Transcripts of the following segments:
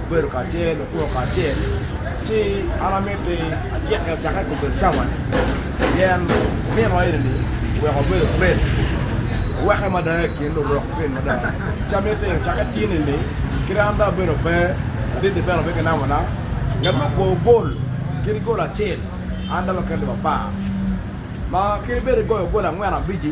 gubedo kacel, gukwoo kacel, ci an amito ni acik acaka i kombeddi cawa ni pien nino eni ni oweko abedo great oweke mada i kin lurok great mada ci amito ni caka tyeni ni kadi an dong abedo pe adit ni bene obed ki namba na ngat ma okwoo gol kadi gol acel an dong aketo iwa par ma kadi bed igoyo gol angwen abic-ci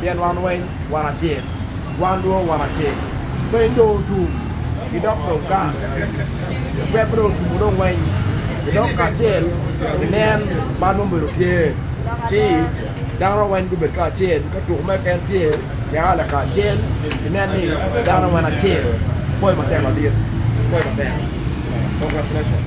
pien wan weng wan acel, wan dong wan acel. Piny dong otum ki dok dong gang, lubbe pe dong otumo dong weng, ki dok kacel ginen man ma obedo tye, ci dano weng gubedo kacel, ka tuko mere keken tye, gia lakacel, ginen ni dano wan acel. Pwoc matek wadit, pwoc matek, congratulations.